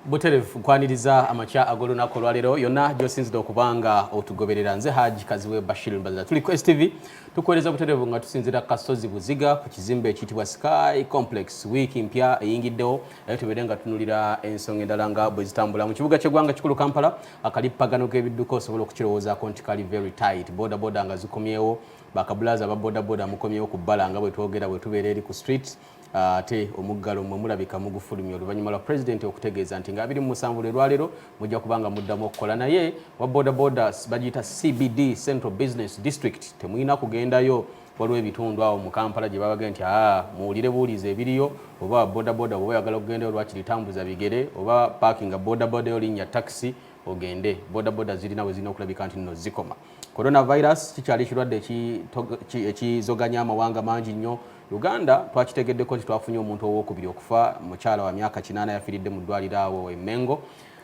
buterevu nkwaniriza amakya ag'olunaku olwaleero yonna gyosinzidde okuba nga otugoberera nze haji kaziwe bashir mbazira tuli ku stv tukuweereza buterevu nga tusinzira kasozi buziga ku kizimbe ekiyitibwa sky complex wiiki mpya eyingiddewo naye tubeere nga tunulira ensonga endala nga bwe zitambula mu kibuga ky'eggwanga kikulu kampala akalippagano k'ebidduka osobola okukirowoozaako nti kali very tight boda boda nga zikomyewo bakabulaza aba boda boda mukomyewo ku bbala nga bwe twogera bwe tubeera eri ku street Ah, ate omuggalo mwe mulabika mugufulumya oluvannyuma lwa pulezidenti okutegeeza nti nga abiri mu musanvu lwe lwaleero mujja kuba nga muddamu okukola naye wa bodaboda bagiyita cbd central business district temulina kugendayo waliwo ebitundu awo mu kampala gye babagee nti aa ah, muwulire buwulizi ebiriyo oba bodaboda oba oyagala okugendayo lwaki litambuza bigere oba paakinga bodaboda yo linnya takisi ogende bodaboda zirina we zirina okulabika nti nno zikoma coronavirus kikyali ekirwadde ekizoganya amawanga mangi nnyo Uganda twakitegeddeko nti twafunye omuntu owokubiri okufa mukyala wa myaka kinaana yafiiridde mu ddwaliro awo e Mengo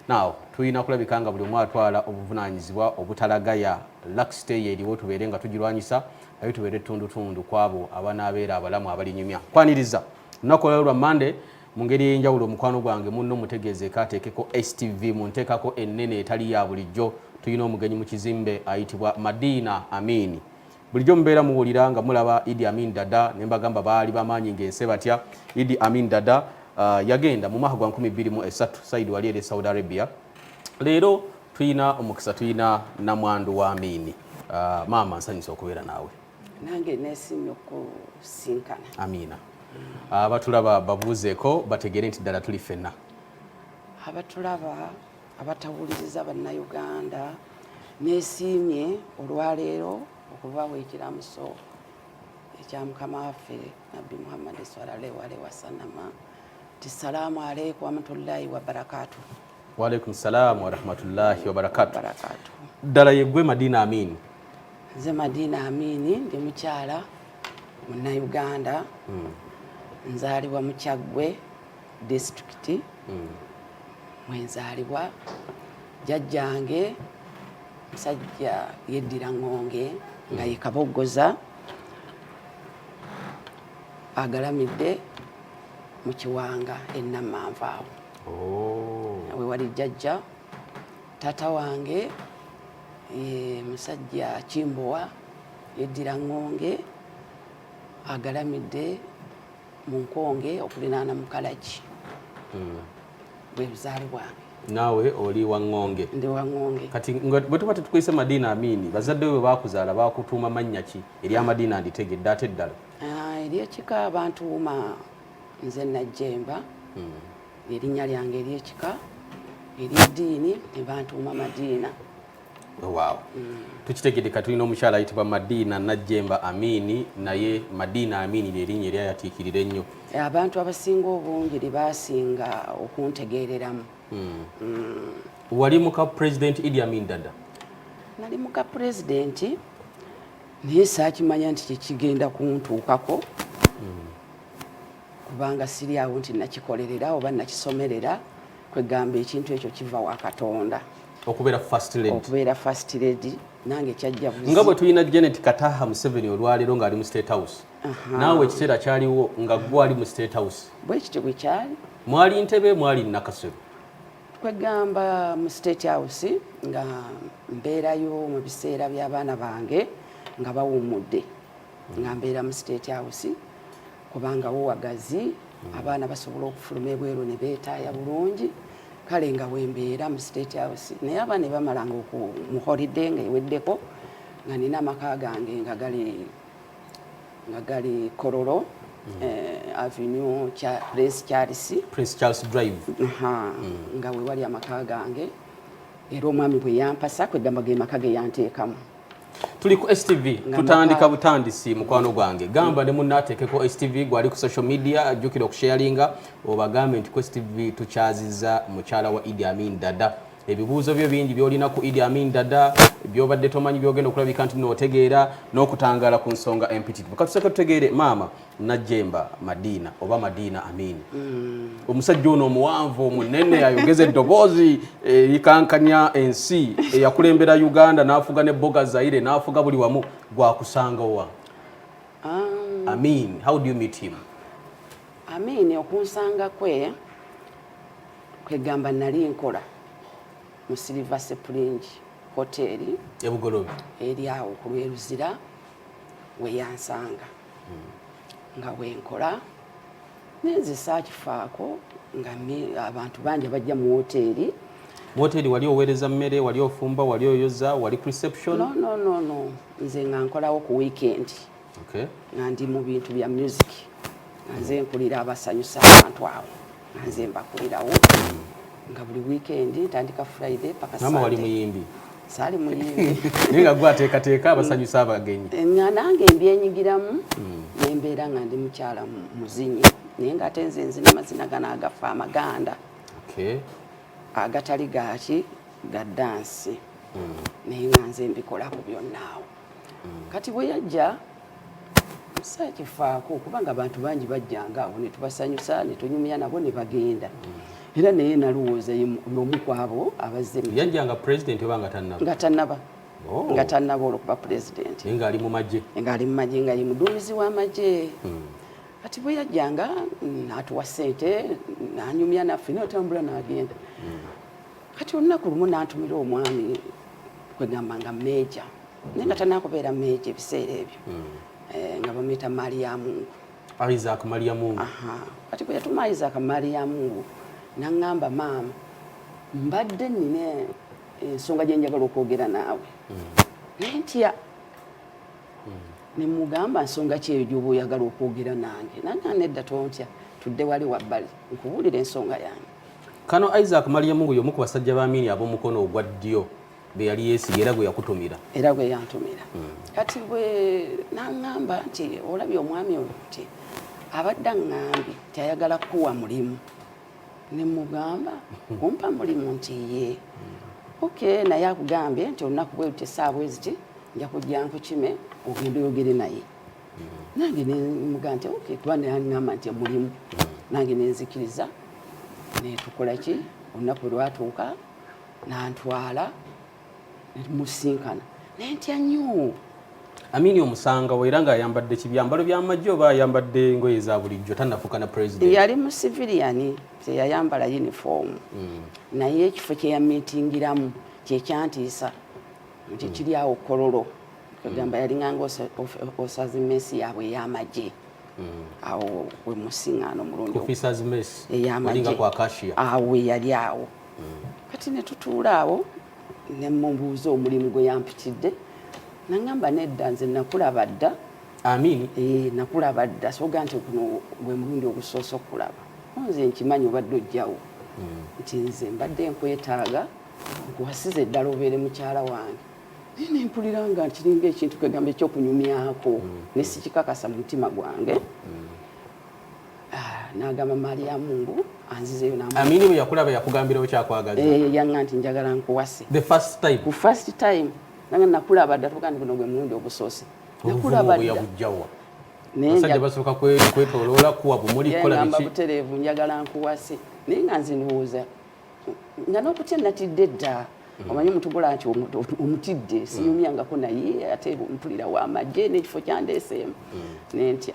naawo tulina kulabika nga buli omu atwala obuvunaanyizibwa obutalagaya laksite ye eriwo tubeere nga tugirwanyisa naye tubeere ettundutundu ku abo abanaabeera abalamu abalinyumya kwaniriza lunaku olwalo lwa mande mu ngeri ey'enjawulo omukwano gwange munno mutegeezeeko ateekeko stv mu nteekako ennene etali ya bulijjo tulina omugenyi mu kizimbe ayitibwa madiina amiini Bulijjo mubeera muwulira nga mulaba Idi Amin Dada ne mbagamba baali bamaanyi ng'ense batya. Idi Amin Dada uh, yagenda mu mwaka gwa 2003 Said wali eri e Saudi Arabia. Leero tulina omukisa tulina namwandu wa Amini. Uh, maama nsanyusa okubeera naawe. Nange nesimye okusinkana. Amina. Uh, abatulaba babuuzeeko bategeere nti ddala tuli ffenna. Abatulaba abatawuliriza bannayuganda nesiimye olwaleero okubawa ekiramuso ekya mukama waffe nabbi muhammadi sallallahu alaihi wasalama ti salaamu aleikum warahmatullahi wabarakatu waalaikum salaamu warahmatullahi wabarakatu ddala yegwe madina amini nze madina amini ndi mukyala munnayuganda hmm. nzaalibwa mukyaggwe disitulikiti mwenzaalibwa jajjange musajja yeddira ŋŋonge nga ye kaboggoza agalamidde mu kiwanga ennamanva awo oh. we wali jajja taata wange ye musajja kimbowa yeddira ŋŋonge agalamidde mu nkonge okulinaana mu kalagi hmm. bwe buzaale bwange naawe oli waŋŋonge ndi waŋŋonge kati gwe tuba tetukwise madiina amiini bazadde bwe baakuzaala baakutuuma mannya ki erya madiina nditegedde ate eddala ah, eryekika bantuuma nze najjemba hmm. erinnya lyange eryekika eryeddiini ne bantuuma madiina waawo tukitegedde ka tulina omukyala ayitibwa madiina najjemba amiini naye madiina amiini lyerinnya eri ayatiikirira ennyo eh, abantu abasinga obungi lyebasinga okuntegeereramu hmm. Hmm. wali muka pulezidenti idi amin dada nali muka pulezidenti naye saakimanya nti kyekigenda kuntuukako hmm. kubanga siri awo nti nakikolerera oba nakisomerera kwegamba ekintu ekyo kiva wa katonda okubeera first lady okubeera first lady nange kyajja nga bwe tulina janet kataha museveni olwaleero ng'ali mu state house naawe ekiseera kyaliwo nga gwe ali mu state house bwe kityo bwe kyali mwali ntebe mwali nakasero kwegamba mu state house nga mbeerayo mu biseera by'abaana bange nga bawummudde nga mbeera mu state house kubanga wo wagazi hmm. abaana basobola okufuluma ebweru ne beetaaya bulungi kale nga wembeera mu state house naye abaana ebamalanga oku mu holiday nga eweddeko nga nina amaka gange nga gali nga gali korolo hmm. eh, avenue cha prince charles prince charles drive ha hmm. nga wewali amaka gange era omwami bwe yampasa kwegamba ge maka ge yanteekamu tuli ku stv tutandika butandisi mukwano gwange gamba ne munna ateekeko stv gwali ku social media ajjukira okusharinga obagambe nti ku stv tukyaziza mukyala wa idi amin dada ebibuuzo byo bingi byolina ku idi amin dada byobadde tomanyi byogenda okulabika nti nootegeera n'okutangaala ku nsonga empitirivu katuseka tutegeere maama Najjemba Madiina oba Madiina Amini mm. omusajja ono omuwanvu omunene ayogeza eddoboozi erikankanya eh, ensi eyakulembera eh, Uganda n'afuga ne boga Zaire n'afuga buli wamu gwakusanga wa um, Amin how do you meet him Amin okunsanga kwe kwegamba nali nkola mu Silver Spring hoteli ebugolobi eri awo ku lweruzira weyansanga nga bwenkola nenze saakifaako nga abantu bangi abajja mu woteeri mu woteeri wali oweereza mmere wali ofumba wali oyoza wali ku reception no, no, no, no. nze nga nkolawo ku weekend okay. nga ndi mu bintu bya music nga nze nkulira abasanyusa abantu abo nze mbakulirawo nga buli weekend ntandika friday paka mama wali muyimbi sali muyimbi naye nga gwateekateeka abasanyusa abagenyi eh, nga nange mbyenyigiramu hmm. nembeera nga ndi mukyala muzinyi naye nga ate nze nzina amazina gano agafa amaganda agatali gaki ga dansi hmm. naye nga nze mbikolako byonnaawo hmm. kati bwe yajja sakifaako kubanga abantu bangi bajjanga awo netubasanyusa netunyumya nabo nebagenda era naye nalowooza yomu kwabo abazze yajjanga president oba nga tanaba nga tanaba oh. nga tanaba olwokuba president nga ali mumaje nga ali mumaje nga ye muduumizi wamaje hmm. kati bwe yajjanga natuwa sente nanyumya naffe natambula nagenda hmm. kati olunaku lumu nantumira omwami kwegamba nga meja naye nga tanakubeera meeja ebiseera ebyo hmm. eh, nga bamuyita maali ya mungu isaac maali ya mungu kati bwe yatuma isaac maali ya mungu naŋŋamba maama mbadde nina ensonga gye njagala okwogera naawe hmm. naye ntya hmm. ne mugamba nsonga ki eyo gy'oba oyagala okwogera nange nange nedda tontya tudde wali wabbali nkubuulira ensonga yange kano isaac maali ya mungu y'omu ku basajja ba miini ab'omukono ogwa ddyo gwe yali yeesiga era gwe yakutumira era gwe yantumira hmm. kati bwe naŋŋamba nti olabye omwami oyo nti abadde aŋŋambye nti ayagala kukuwa mulimu ne mugamba kumpa mulimu nti ye hmm. ok naye akugambye nti olunaku bwe luti esaawa eziti nja kujja nkukime ogenda oyogere naye hmm. nange nemugamba nti ok kuba naŋŋamba nti mulimu nange nenzikiriza netukola ki olunaku lwatuuka nantwala nemusinkana naye ntya nnyo amini omusangawo era ng'ayambadde kibyambalo byamagye oba ayambadde ngoye za bulijjo tanafuka na president yali mu civilian teyayambala uniform mm. naye ekifo kyeyamitingiramu kyekyantiisa nti mm. kiri awo kololo kagamba mm. yalinganga osazi mesi yaabwe eyamagye mm. awo wemusiŋano omulundi eyamagye awo yali awo kati ne tutuula awo ne mubuuza omulimu gwe yampitidde nangamba nedda nze nakulaba dda amin eh, nakulaba dda soga nti kuno gwe mulundi ogusoose okulaba nze nkimanyi obadde ojjawo hmm. nti nze mbadde nkwetaaga nkuwasize eddala obeere mukyala wange naye nempulira nga nkiringa ekintu kwegamba ekyokunyumyako mm. nesikikakasa mu mutima gwange mm. Ah, n'agamba maliyamu ngu anzizeyo amini bwe yakulaba yakugambira okyakwagaza eh, yaŋa nti njagala nkuwase the first time ku first time nange nakulaba dda tuga nti guno gwe mulundi ogusoose nakulaba ddayabujawa basajja basooka kwetoloola kuwa bumuli kukola biki butereevu njagala nkuwase naye nga nze ndowooza nga n'okutya natidde dda Mm. omanyi omuntu gula nti omutidde mm. siyumyangako naye ate mpulira wamagye nekifo kyandeeseemu mm. nentya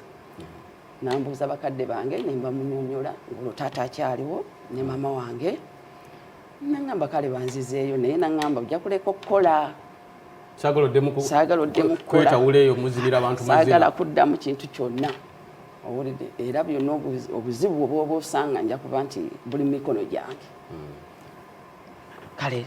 nambuuza bakadde bange ne mbamunyonyola ng'olwo taata akyaliwo ne maama wange nangamba kale banzizeeyo naye nangamba ojja kuleka okukola saagala oddemu kukolaeyo muzibira abantu saagala kuddamu kintu kyonna owulidde era byonna obuzibu obwoba osanga nja kuba nti buli mumikono gyange hmm. kale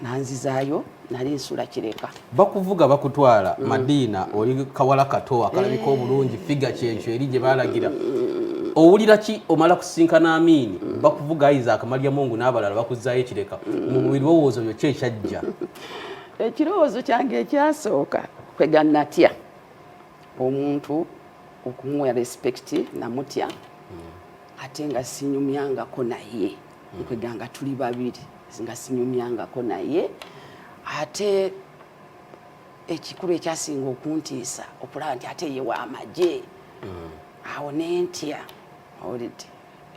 nanzizaayo nali nsula kireka bakuvuga bakutwala mm. madiina oli kawala kato akalabika eh. obulungi figa kyekyo eri gye balagira mm. owulira ki omala kusinkana amiini mm. bakuvuga ayiza akamalya mungu n'abalala bakuzaayo ekireka mm. mu birowoozo byo kyekyajja ekirowoozo kyange ekyasooka kwega natya omuntu okumuwa respect namutya mm. ate nga sinyumyangako naye nkwega nga tuli babiri nga sinyumyangako naye ate ekikulu ekyasinga okuntiisa okulaba nti ate ye wamagye mm. awo nentya olidde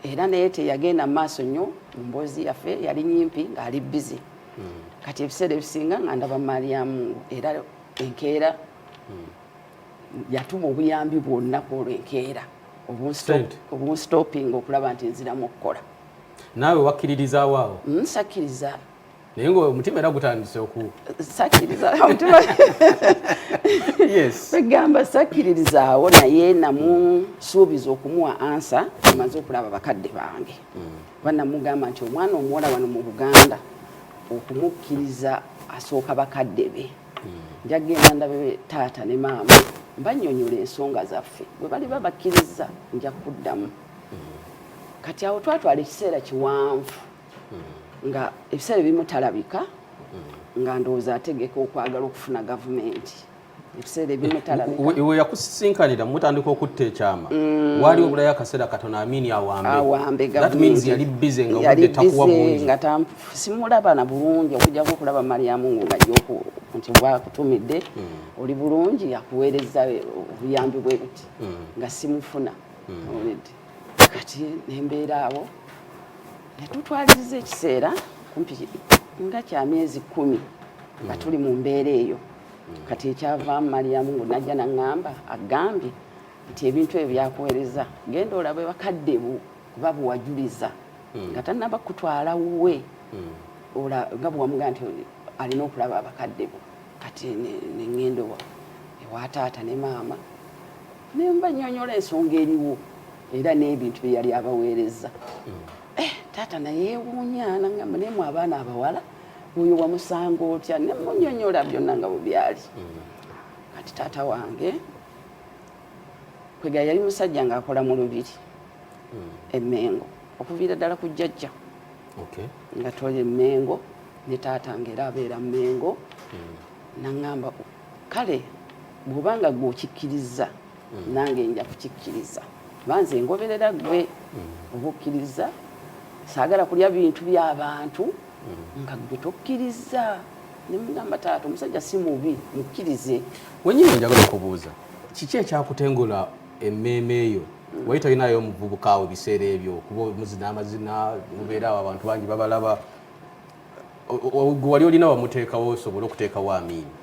era naye teyagenda mu maaso nnyo mu mboozi yaffe yali nyimpi ng'ali bizi mm. kati ebiseera ebisinga nga ndaba mariamu era enkeera mm. yatuma obuyambi bwonna ku olwo enkeera obunstopinga okulaba nti nziramu okukola naawe wakkiririzaawo awo hmm, sakkiriza naye nga omutima era gutandise oku sakkiriza omutima egamba sakkiririzaawo naye namusuubiza okumuwa ansa amaze okulaba bakadde bange hmm. kuba namugamba nti omwana omuwala wano mu buganda okumukkiriza asooka bakadde be nja kugenda ndabe taata ne maama mbanyonyola ensonga zaffe bwe bali babakkirizza nja kuddamu kati awo twatwala ekiseera kiwanvu nga ebiseera ebimu talabika nga ndowooza ategeka okwagala okufuna gavumenti ebiseera ebimu talabiwe yakusisinkanira mutandika okutta ekyama mm. waali obulayo akaseera katono amini awambe awambe yali bize nga obudde takuwa bungi nga simulaba na bulungi okujjako okulaba mariamu nga yoku nti wakutumidde hmm. oli bulungi yakuweereza obuyambi bwe buti hmm. nga simufuna hmm. kati nembeera awo netutwaliriza ekiseera kumpi nga kya myezi kumi nga tuli mu mbeera eyo kati ekyavaamu mariamu ngu najja naŋŋamba agambye nti ebintu ebyo byakuweereza genda olabe bakadde bu kuba bwewajuliza hmm. nga tanaba kutwala wuwe hmm. ola nga bwewamugaa nti alina okulaba abakadde bo kati nengendo ewataata ne maama nemba nyonyola ensonga eriwo era n'ebintu byeyali abaweereza hmm. eh, taata nayewuunya nangamba nemu abaana abawala oyo wamusanga otya nemunyonyola byonna nga bwebyali kati taata wange kwega yali musajja ngaakola mu lubiri hmm. emengo okuviira ddala ku jjajja nga toli emengo ne taata nga era abeera mengo hmm. naŋamba kale bwobanga gwe okikkiriza hmm. nange nja kukikkiriza banze ngoberera gwe obukkiriza saagala kulya bintu byabantu nga gwe tokkiriza nemugamba taata omusajja si mubi mukkirize wenyini njagala okubuuza kiki ekyakutengula emmeeme yo wali talinayo omuvubuka awo ebiseera ebyo kuba omuzina amazina mubeera awo abantu bangi babalaba gwe wali olina wamuteekawo osobole okuteekawo amiini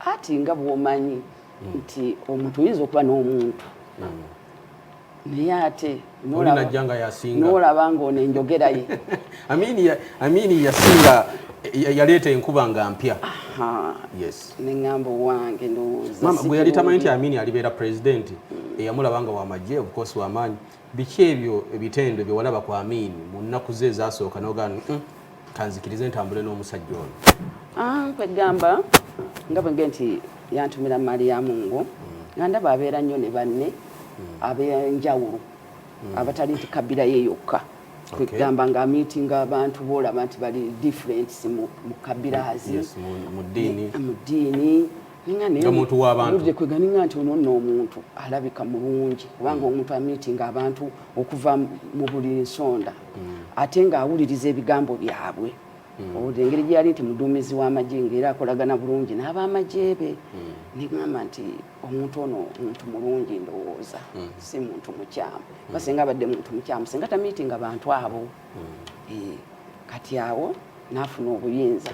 ati nga bwomanyi hmm. nti omuntu oyinza okuba n'omuntu hmm. naye ate nolajja nga yasinga nolaba nga ono enjogera ye amini yasinga yaleeta enkuba nga mpya neŋamba owange ndowoozagwe yali tamanyi nti amini alibeera pulezidenti eyamulaba nga wamagye obukosi wamaanyi biki ebyo ebitendo byewalaba ku amini mu nnaku ze ezasooka nogaa kanzikirize ntambule n'omusajja ono ah, kwegamba nga bwenge nti yantumira maali ya mungu nga ndaba abeera nnyo ne banne ab'enjawulo abatali nti kabira ye yokka kwegamba nga amiitinga abantu boolaba nti bali difference mu kabirazi mu ddiini nga muntu wabantu kweganinga nti ono nno omuntu alabika mulungi kubanga mm. omuntu amitinga abantu okuva mu buli nsonda mm. ate nga awuliriza ebigambo byabwe mm. owulira engeri gyeyali nti muduumizi w'amagye ngaera akolagana bulungi n'abamagye be negamba nti omuntu ono muntu mulungi ndowooza si muntu mukyamu ba singa abadde muntu mukyamu singa tamitinga bantu abo eh, kati awo n'afuna obuyinza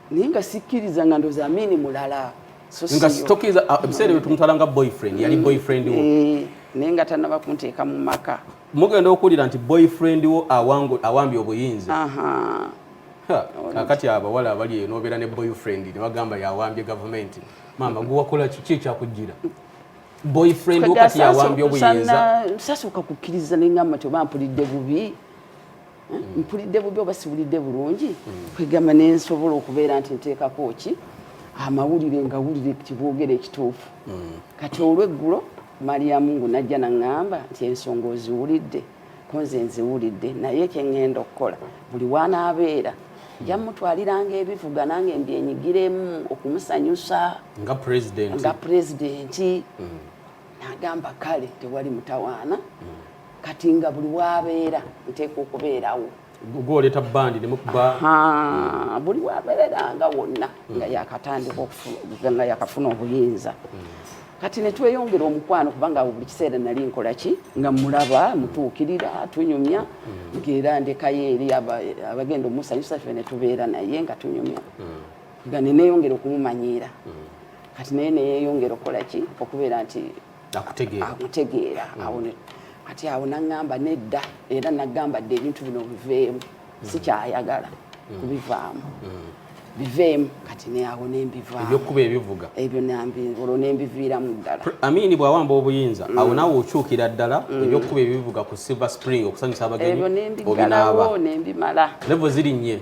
naye nga sikkiriza nga ndoza amini mulala nga sitokiriza ah, ebiseera ebyo tumutwala nga boyfriend yali mm. boyfriend wo eh, naye nga tanaba kunteeka mu maka mugenda okuwulira nti boyfriend wo awambye obuyinza kakati abawala abali eyo nobeera ne boyfriend ne bagamba yawambye gavumenti maama gwewakola kiki ekyakujjira boyfriend wo kati yawambye obuyinza sasooka kukkiriza nengamba nti oba mpulidde bubi mpulidde bubi oba siwulidde bulungi kwegamba nensobola okubeera nti nteekako ki amawulire nga wulire kibwogera ekituufu mm. kati olweggulo maliyamu ngu najja naŋŋamba nti ensonga oziwulidde kunze nziwulidde naye kyeŋŋenda okukola buli wanaabeera nja mutwaliranga ebivuga nange mbyenyigiremu okumusanyusa nga pulezidenti mm. nagamba kale tewali mutawaana mm. kati nga buli wabeera nteeka okubeerawo gwoleta bandi nemukuba buli wabeera nga wonna nga mm. yakatandika nga yakafuna obuyinza mm. kati netweyongera omukwano kubanga buli kiseera nali nkola ki nga mulaba mutuukirira tunyumya mm. ngaera ndekayo eri abagenda omusanyusa fe netubeera naye nga tunyumya nga neneyongera okumumanyiira kati naye neyeyongera okukola ki okubeera nti akutegeera mm. awo ati awo naŋŋamba nedda era naŋŋamba dde ebintu bino biveemu mm. sikyayagala mm. kubivaamu biveemu kati neawo nembivaebyokuba ebivuga ebyo olwo nembiviiramu ddala amini bwawamba obuyinza awo nawe okyukira ddala ebyokuba ebivuga ku silver spring okusanyusa abagenyi obinaaba nembimala levo zirinnye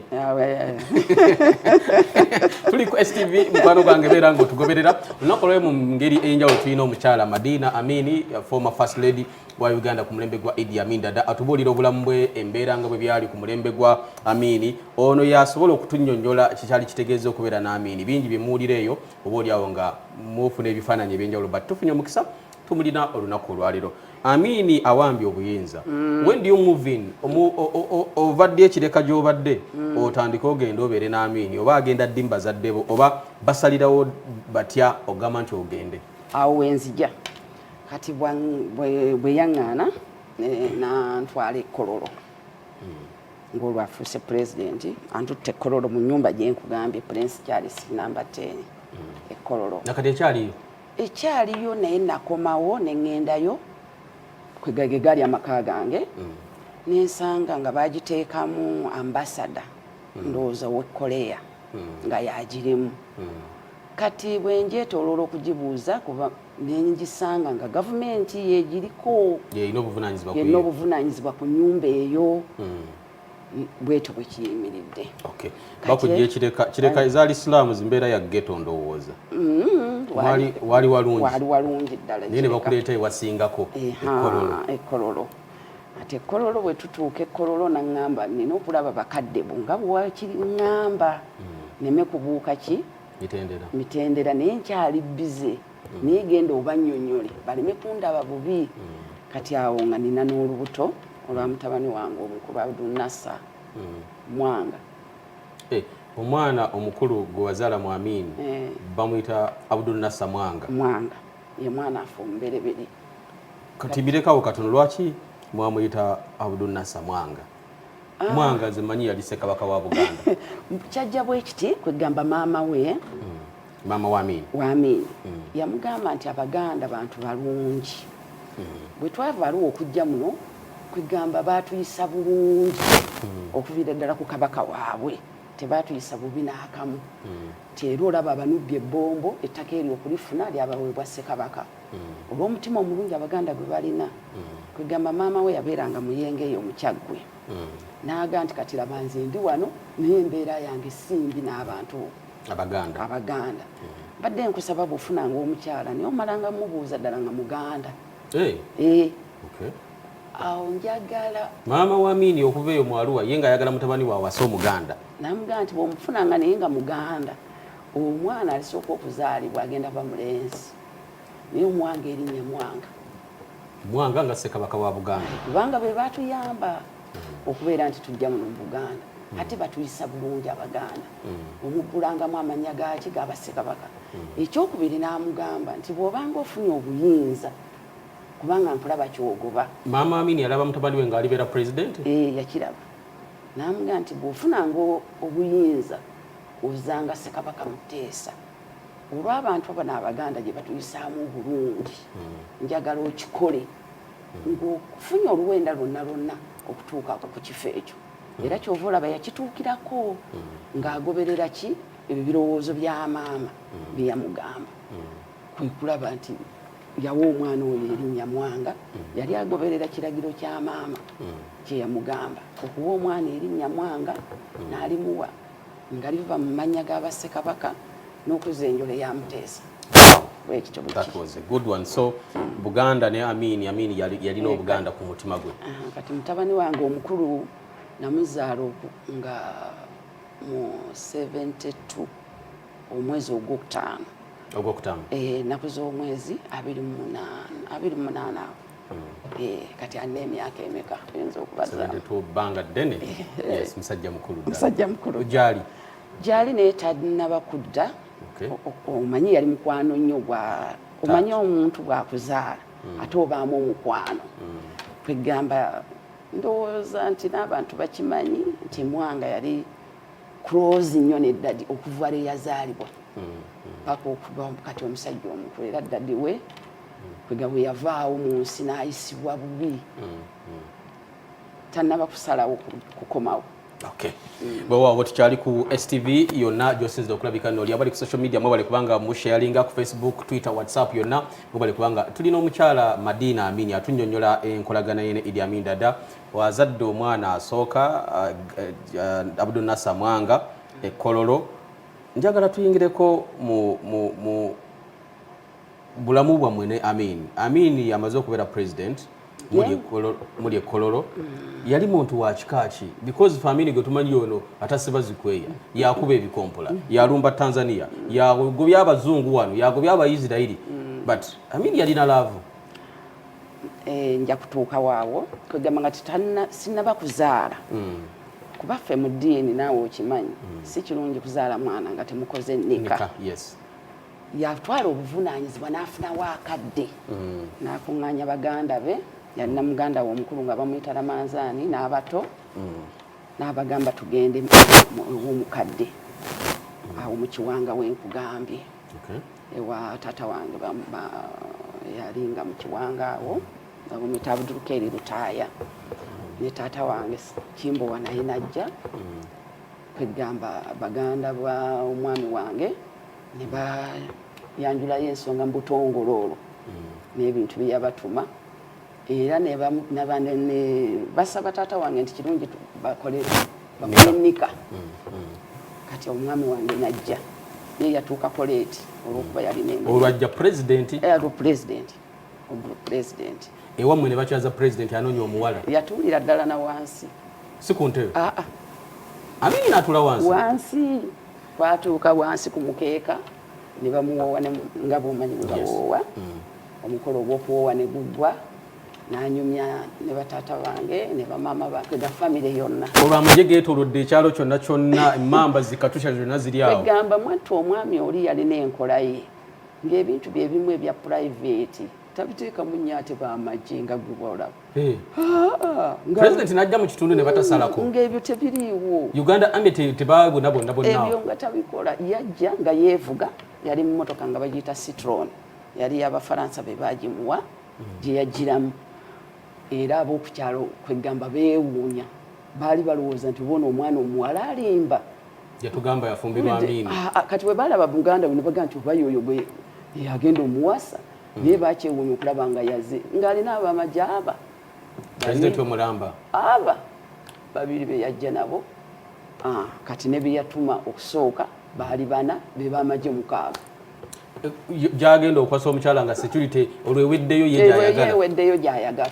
tuli ku stv mukwano gwange beera nga otugoberera olunaku olwali mu ngeri ey'enjawulo tulina omukyala madina amini former first lady wa uganda ku mulembe gwa idi amin dada atubuulira obulamu bwe embeera nga bwe byali ku mulembe gwa amini ono yasobola okutunyonyola kikyali kitegeeza okubeera n'amini bingi bye muwulira eyo oba oli awo nga mufuna ebifaananyi eby'enjawulo but tufunye omukisa tumulina olunaku olwaliro amiini awambye obuyinza mm. when do you move in ovadde ekireka gyobadde mm. otandike ogenda obeere n'amiini oba agenda ddi mubazadde bo oba basalirawo batya ogamba nti ogende awo wenzija kati bweyaŋŋaana eh, nantwala ekkololo mm. ngaolwo afuuse pulezidenti antutte ekkololo mu nyumba gyenkugambye prince charles namba ten ekkololo nakati ekyaliyo ekyaliyo naye nakomawo neŋŋendayo kwegage gaali amaka gange mm. nensanga nga bagiteekamu ambasada mm. ndowooza owe koleya mm. nga yagirimu kati bwe njetoloola okugibuuza kuba nengisanga nga gavumenti yegiriko yeyina obuvunanyizibwa ku nyumba eyo bwetyo bwekiyimiridde bakujja ekireka kireka eza alisilaamu zimbeera ya geto ndowooza mm-hmm. waali walungi ddala naye ne bakuleeta ewasingako ekololo ate ekololo bwe tutuuka ekololo naŋŋamba nina okulaba bakadde bo nga bwewakiriŋŋamba mm. neme kubuuka ki mitendera naye nkyali bize naye genda obanyonyole baleme kundaba bubi kati awo nga nina n'olubuto olwa mutabani wange omukulu abdunasa hmm. mwanga eh, omwana omukulu gwe wazaala mu amin eh. bamuyita abdunasa mwanga mwanga ye mwana afe omubereberi kati birekawo katono lwaki mwamuyita abdunasa mwanga ah. mwanga nze manyi yali sekabaka wa buganda kyajja bwekiti kwegamba maama we hmm. maama wa Amin wa Amin mm. yamugamba nti abaganda bantu balungi mm. bwe twava aliwo okujja muno kwegamba baatuyisa bulungi mm. okuviira ddala ku kabaka waabwe tebaatuyisa bubi n'akamu mm. nti era olaba abanubbye ebbombo ettaka eryo okulifuna lyabaweebwa ssekabaka mm. olw'omutima omulungi abaganda gwe balina mm. kwegamba maama we yabeeranga muyenga eyo mukyaggwe mm. naaga nti kati laba nze ndi wano naye embeera yange simbi n'abantu abaganda abaganda mm. badde nkusaba bwofunanga omukyala naye omalanga mubuuza ddala nga muganda hey. Eh. hey. Eh. okay. awo njagala maama wa miini okuva eyo mwaluwa ye nga ayagala mutabani wawasa omuganda namugamba nti bwomufunanga naye nga muganda omwana alisooka okuzaalibwa agenda ba mulenzi naye omwanga erinnya mwanga mwanga nga ssekabaka wa buganda kubanga be batuyamba okubeera nti tujja muno mu buganda mm. ate batuyisa bulungi abaganda mm. omuggulangamu amanya gaki gabassekabaka mm. ekyokubiri n'amugamba nti bw'obanga ofunye obuyinza kubanga nkulaba kyogoba maama amini alaba mutabani we ng'alibeera pulezidenti eh, yakiraba n'amugamba nti bw'ofunanga obuyinza ozanga ssekabaka muteesa olw'abantu abana abaganda gye batuyisaamu obulungi njagala okikole ng'ofunye oluwenda lwonna lwonna okutuuka ku kifo ekyo era kyova olaba yakituukirako ng'agoberera ki ebyo birowoozo bya maama bye yamugamba kwe kulaba nti yawa omwana oyo erinnya mwanga yali agoberera kiragiro kya maama kye yamugamba okuwa omwana erinnya mwanga n'alimuwa nga liva mu mannya ga bassekabaka n'okuzza enjole ya muteesa That was a good one. So mm. Buganda ne Amin, Amin yalina Obuganda ku mutima gwe. Uh, kati mutabani wange omukulu namuzaala oku nga mu 72 omwezi ogwokutaano ogwokutaano eh, nakuza omwezi abiri munaana abiri munaana awo Eh, kati alina emyaka emeka oyinza okubazabbanga ddene eh. musajja mukulu musajja mukulu gyali gyali naye talinaba kudda omanyi yali mukwano nnyo gwa omanyi omuntu bwakuzaala hmm. ate obaamu omukwano hmm. kwegamba ndowooza nti n'abantu bakimanyi nti mwanga yali close nnyo ne dadi okuva lwe yazaalibwa hmm, paka okuba kati omusajja omukulu era dadi we kwega bwe yavaawo mu nsi n'ayisibwa bubi tannaba kusalawo kukomawo Okay. Bwewaawo tukyali ku STV yonna gyosinzira okulabika noli abali ku social media mwebale kubanga musharinga ku Facebook, Twitter, WhatsApp yonna mwebale kubanga tulina omukyala Madina Amini atunyonyola enkolagana yene Idi Amin Dada wazadde omwana asooka uh, uh, Abdul Nasser Mwanga ekololo njagala tuyingireko mu, mu, mu bulamu bwammwe ne amin amin yamaze okubeera president muli ekololo mm. yali muntu wa kika ki because family gwe tumanyi ono atasiba zikweya yakuba ebikompola mm. yalumba tanzania yagobya abazungu wano yagobya abaisirairi mm. but amin yalina laavu eh, nja kutuuka waawo kwegamba nga titanna sinaba kuzaala kuba ffe mu ddiini naawe okimanyi si kirungi kuzaala mwana nga temukoze nika yatwala obuvunaanyizibwa n'afunawo akadde mm. n'akuŋŋaanya baganda be yalina muganda we omukulu nga bamuyita lamanzaani n'abato mm. n'abagamba tugende ew'omukadde mm. awo mu kiwanga we nkugambye ewa taata wange yali nga mu kiwanga awo nga bamuyita abuduluka eri lutaaya ne taata wange kimbowa naye najja kwegamba baganda ba omwami wange ne bayanjulayo ensonga mu butongole olwo mm. n'ebintu bye yabatuma era basaba taata wange nti kirungi bakole bakole nika mm, mm. kati omwami wange najja naye yatuukako leeti olwokuba yalina olwajja pulezidenti olwo pulezidenti ogwo pulezidenti ewammwe ne bakyaza pulezidenti anoonya omuwala yatuulira ddala na wansi si ku ntebe aa ah, ah. amini natula wansi wansi Twatuuka wansi ku mukeeka ne bamuwoowa nga bwomanyi bwe bawoowa mm. omukolo ogw'okuwoowa ne guggwa nanyumya ne bataata bange ne bamaama bange ga famire yonna olwo amagye geetolodde ekyalo kyonna kyonna emmamba zikatusha zonna ziri awo egamba mwattu omwami oli yalina enkola ye ng'ebintu bye bimu ebya purayiveti tabiteekamu nnyo ate bamagye nga guba olaba Eh. Ah, president najja mu kitundu ne batasalako mm, ng'ebyo tebiriiwo uganda ame tebabona bonna bonna ebyo nga tabikola yajja nga yeevuga yali mu motoka nga bagiyita citron yali yabafaransa be baagimuwa mm. gye yagiramu era ab'okukyalo kwegamba beewuunya baali balowooza nti bona omwana omuwala alimba yatugamba yafumbirwa amini ah, ah, kati bwe baalaba buganda bwe ne bagamba nti oba yoyo gwe yagenda omuwasa naye bakyewuunya okulaba nga yaze ng'alina abo amagye aba aba babiri be yajja nabo ah, kati ne beyatuma okusooka baali bana be bamagye mukaaga eh, gyagenda okwasa omukyala nga security olweweddeyo ye gyayagala gyayagala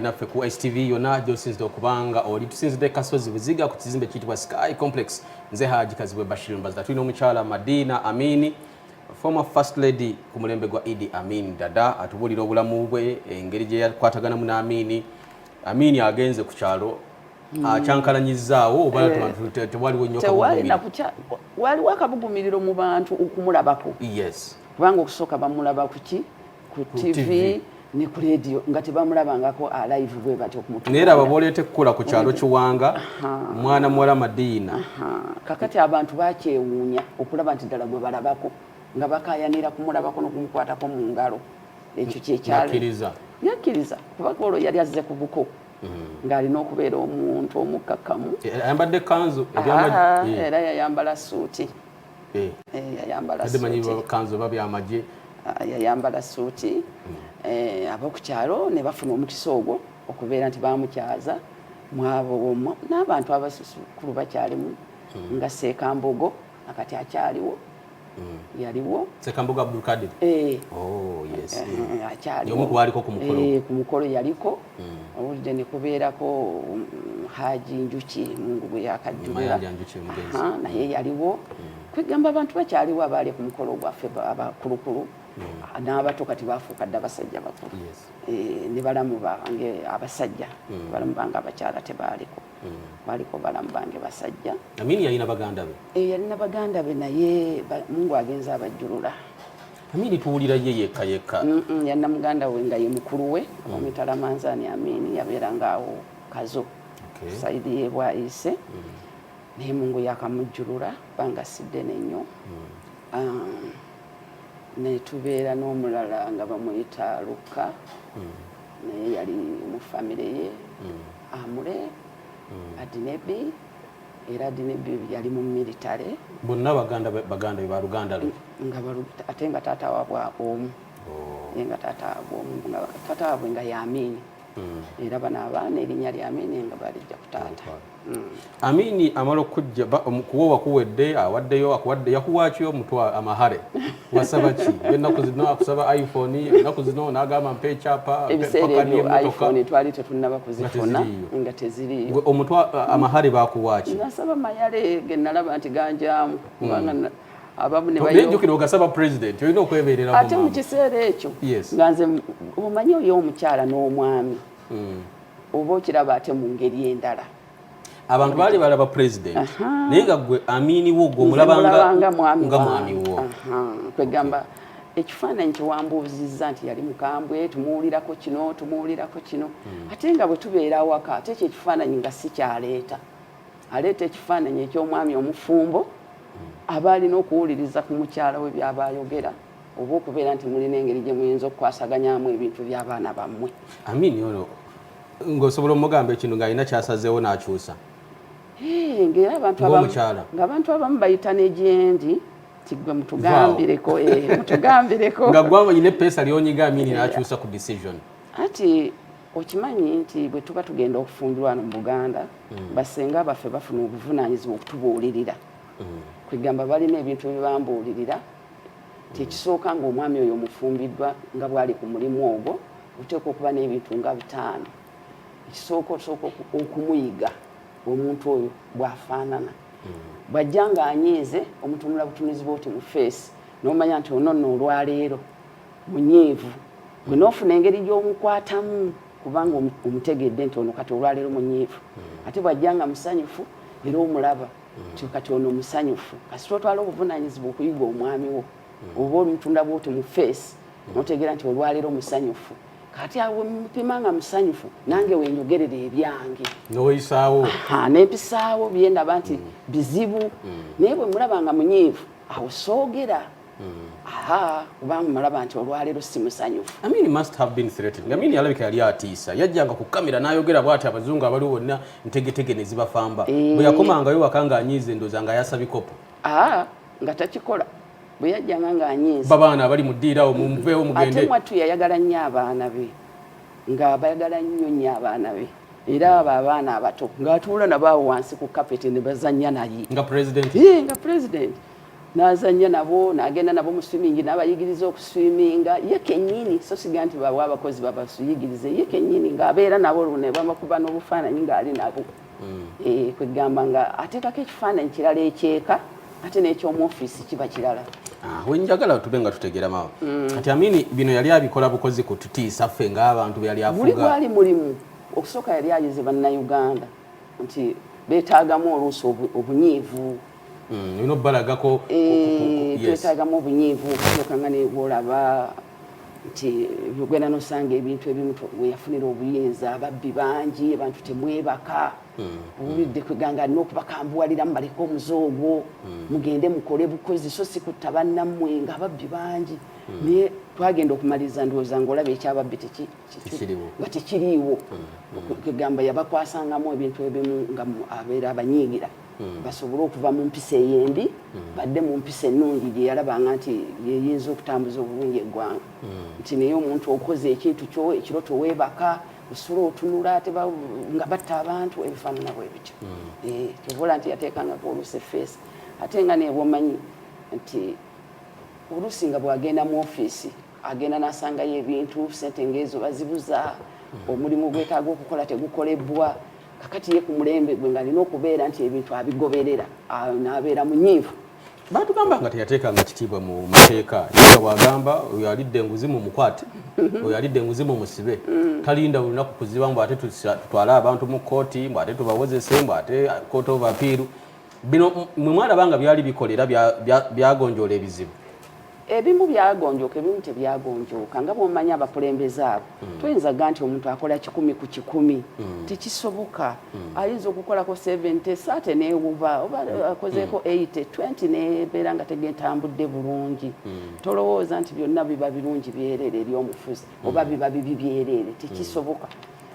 naffe ku stv yonna gyosinzidde okubanga oli tusinzidde kasozi buziga ku kizimbe kiyitibwa sky complex nze haji kazibwe bashir mbazda tulina omukyala madina amini former first lady ku mulembe gwa idi amin dada atubuulira obulamu bwe engeri gye yakwataganamu n'amini amini agenze ku kyalo hmm. akyankalanyizaawo oba eh. tewaliwo nyo waliwo akabugumiriro mu bantu okumulabako yes kubanga okusooka bamulaba kuki ku TV ne ku leediyo nga tebamulabangako alive bwe batyo okumutnaye laba boleeta ekukula ku kyalo kiwanga mwana muwala madiina kakati abantu bakyewuunya okulaba nti ddala gwe balabako nga bakayanira kumulabako nokumukwatako mu ngalo ekyo kyekyakiriza yakkiriza kubanga olwo yali azze ku buko mm. ng'alina okubeera omuntu omukkakkamu e, ayambadde kanzu ah, eh. era yayambala suuti eh. eh, yayambala kanzu oba byamagye ah, yayambala suuti hmm. eh, ab'oku kyalo ne bafuna omukisa ogwo okubeera nti bamukyaza mwabo omwo n'abantu abasusukulu bakyalimu hmm. nga seekambogo akati akyaliwo hmm. yaliwo sekambogo abdulkadir oh, akyaliwo ku mukolo yaliko owulidde nekubeerako um, haji njuki mungu bwe yakajjulira naye yaliwo mm. kwegamba abantu bakyaliwo abaali ku mukolo gwaffe abakulukulu mm. n'abato kati bafuuka dda abasajja bakulu eh, ne balamu bange abasajja mm. balamu bange abakyala tebaaliko baliko balamu bange basajja amini yalina baganda be eh, yalina baganda be naye mungu agenza abajjulula Amini tuwulira ye yekka yekka. Mm -mm, yanna muganda we nga ye mukulu we mm. omitala manzani Amini yabeera nga awo kazo okay. saidi ye bwayise mm. naye mungu yakamujjulula banga siddene nnyo mm. um, netubeera n'omulala nga bamuyita lukka mm. naye yali mu famire ye mm. amule mm. adinebi era dini yali mu military bonna baganda baganda ba luganda lwe nga ate nga taata wabwe omu oh. ye nga taata wabwe omu nga taata wabwe nga yamini hmm. era bano abaana erinnya lya amini nga balijja ku taata hmm. amini amala okujja kuwowa kuwedde awaddeyo akuwadde yakuwaki omutwa amahare wasaba ki ennaku zino akusaba iphone ennaku zino nagamba mpa ekyapa ebiseera ebyo iphone twali tetunnaba kuzifuna nga teziriyo omutw amahare bakuwaki nasaba mayale genalaba nti ganjamu kubanga hmm. abamunejukira ogasaba president olina okweberera ate mu kiseera ekyo nga nze omanyi oyo omukyala n'omwami hmm. oba okiraba ate mu ngeri endala abantu baali balaba president naye nga gwe amini wo gwe omulabanga nga mwami wo kwegamba ekifaananyi kyewambuuzizza nti yali mukambwe tumuwulirako kino tumuwulirako kino hmm. ate nga bwe tubeera awaka ate ekyo ekifaananyi nga si kyaleeta aleeta ekifaananyi eky'omwami omufumbo hmm. aba alina okuwuliriza ku mukyala we byaba ayogera oba okubeera nti mulina engeri gye muyinza okukwasaganyamu ebintu by'abaana bammwe amini ono ng'osobola omugamba ekintu ng'alina kyasazeewo n'akyusa ng'era abantu abamu bayita n'egyendi tigwe mutugambireko eh, mutugambireko nga gwanga nyine pesa lyonyiga amini nakyusa ku decision ati okimanyi nti bwe tuba tugenda okufumbirwa wano mu buganda hmm. basenga baffe bafuna obuvunaanyizibwa okutubuulirira hmm. kwegamba balina ebintu byebambuulirira kyekisooka hmm. ngaomwami oyo omufumbiddwa nga bwali ku mulimu ogwo oteekwa okuba n'ebintu nga bitaano ekisooka osooka okumuyiga omuntu oyo bwafaanana hmm. bwajja nga anyiize omutunula butunuzi bwoti mu feesi nomanya nti ononno olwaleero munyiivu gwe hmm. nofuna engeri gyomukwatamu kubanga omutegedde nti ono kati olwaleero munyiivu hmm. ate bwajja nga musanyufu era omulaba nti kati ono musanyufu kasita otwala obuvunanyizibwa okuyiga omwami wo oba omutunda bwoti mu feesi mutegeera nti olwaleero musanyufu kati awo mupima nga musanyufu nange wenyogerera ebyange neweyisaawo nempisaawo byendaba nti mm. bizibu mm. naye bwe mulaba nga munyiivu awo soogera mm. aha kubanga mulaba nti olwaleero si musanyufu amini alabika yali atiisa yajjanga ku kamera n'ayogera bwati abazungu abaliwo bonna ntegetege ne zibafamba eh. bwe yakomangayo waka ng'anyiiza endoza nga yasa bikopo nga takikola bwe yajjanga ng'anyiiza babaana abali mu ddiira awo mumuveewo mugende ate mwattu yayagala nnyo abaana be ng'abayagala nnyo nnyo abaana be era abo abaana abato ng'atuula nabo awo wansi ku kapeti ne bazannya naye nga pulezidenti nga pulezidenti n'azannya nabo n'agenda nabo mu swimingi n'abayigiriza okuswiminga ye kennyini so siga nti bawa abakozi babasuyigirize ye kennyini ng'abeera nabo luno babakuba n'obufaananyi ng'ali nabo mm. eh, kwegamba nga ateekako ekifaananyi kirala ekyeka ate n'ekyomu ofiisi kiba kirala ah, wenjagala tube nga tutegera mawa mm. kati amini bino yali abikola bukozi ku tutiisa ffe ng'abantu beyali afuga buli gwali mulimu okusooka yali ayize bannayuganda nti beetaagamu oluusi obunyiivu mm, bino balagako eh, twetaagamu obunyiivu okusookanga neolaba nti ogenda nosanga ebintu ebimu weyafunira obuyinza ababbi bangi abantu temwebaka hmm. owulidde kweganga alina okubakambuwalira mubaleke omuze ogwo hmm. mugende mukole bukozi so sikutta bannammwe nga ababbi bangi hmm. naye twagenda okumaliriza ndowooza ngaolaba ekyababbi tekiri nga tekiriiwo kegamba mm, mm. yabakwasangamu ebintu ebimu nga abeera abanyiigira mm. basobole okuva mu mpisa ey'embi badde mu mpisa ennungi gye yalabanga nti yeyinza okutambuza obulungi eggwanga nti naye omuntu okoze ekintu kyo ekiro teweebaka osula otunula ate nga batta abantu ebifaanana bwe bityo eh, kyobola nti yateekangako oluusi efeesi ate nga nebwomanyi nti oluusi nga bwagenda mu ofiisi agenda nasangayo ebintu sente ngaezo bazibuza hmm. omulimu gwetaaga okukola tegukolebwa kakati ye ku mulembe gwe ng'alina okubeera nti ebintu abigoberera n'abeera munyiivu batugamba nga teyateekanga kitiibwa mu mateeka yega bwagamba oyo alidde enguzi mu mukwate mhm. oyo alidde enguzi mu musibe mm. talinda olunaku kuziba mbu ate tutwale abantu mu kkooti mbu ate tubawozese mbu ate kooti ovapiiru bino mwe mwalaba nga byali bikolera byagonjoola ebizibu ebimu byagonjooka ebimu tebyagonjooka nga bwomanya abakulembeze abo hmm. tuyinza ga nti omuntu akola kikumi ku kikumi hmm. tekisoboka hmm. ayinza okukolako 70 saate newuba oba akozeeko 80 20 nebeera nga tegetambudde bulungi tolowooza nti byonna biba birungi byerere eri omufuzi oba biba bibi byerere tekisoboka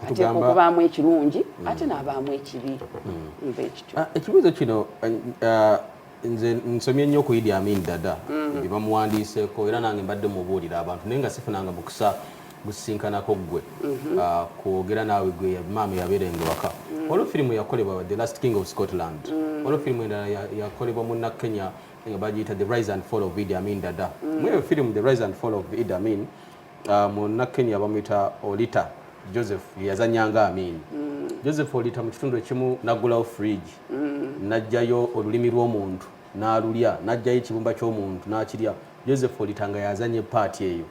ateeka okubaamu ekirungi mm. ate n'abaamu ekibi mm. nva ekityo ah, ekibuuzo kino eh, eh, nze nsomye nnyo ku idi amin dada mm. bye bamuwandiiseeko era nange mbadde mubuulira abantu naye nga sifunanga mukisa gusisinkanako gwe mhm. ah, kwogera naawe gwe maama yabeera engewaka olwo firimu yakolebwa the last king of scotland olwo firimu endala yakolebwa munna kenya nga bagiyita the rise and fall of idi amin dada mweyo firimu the rise and fall of idi amin Ah, munnakenya bamuyita olita joseph yeyazanya nga amin mm. joseph olita mu kitundu ekimu naggulawo fridge mm. najjayo olulimi lw'omuntu n'alulya najjayo ekibumba ky'omuntu n'akirya joseph olita nga yazanye paati eyo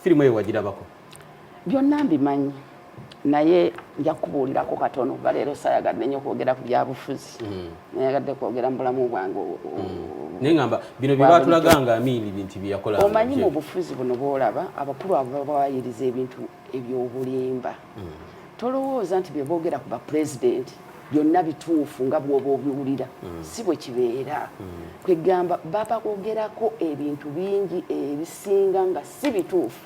firimu eyo wagirabako byonna mbimanyi naye nja kubuulirako katono kuba leero sayagadde nnyo kwogera ku byabufuzi hmm. nayagadde kwogera mu bulamu bwange hmm. naye ngamba bino byebatulaga nga amiini binti byeyakola omanyi mu bufuzi buno bwolaba abakulu abo babawayiriza ebintu ebyobulimba hmm. tolowooza nti byeboogera ku bapulezidenti byonna bituufu nga bwoba obiwulira mm. si bwe kibeera mm. kwegamba babakogerako ebintu bingi ebisinga nga si bituufu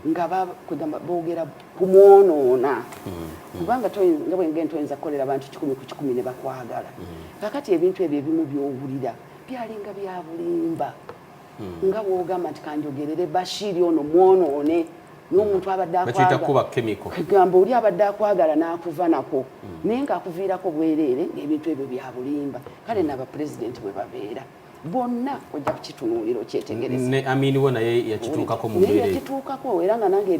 nga bakugamba boogera kumwonoona kubanga nga bwengenda oyinza kukolera abantu kikumi ku kikumi ne bakwagala kakati ebintu ebyo ebimu byowulira byalinga byabulimba nga bwogamba nti kanjogerere bashiri ono mwonoone n'omuntu abadde akwagamba oli abadde akwagala n'akuva nako naye ng'akuviirako bwereere ng'ebintu ebyo byabulimba kale nabapulezidenti bwe babeera bonna ojja kukitunuulira okyetegereze ne amini wo naye yakituukako mu mbeera yakituukako era nga nange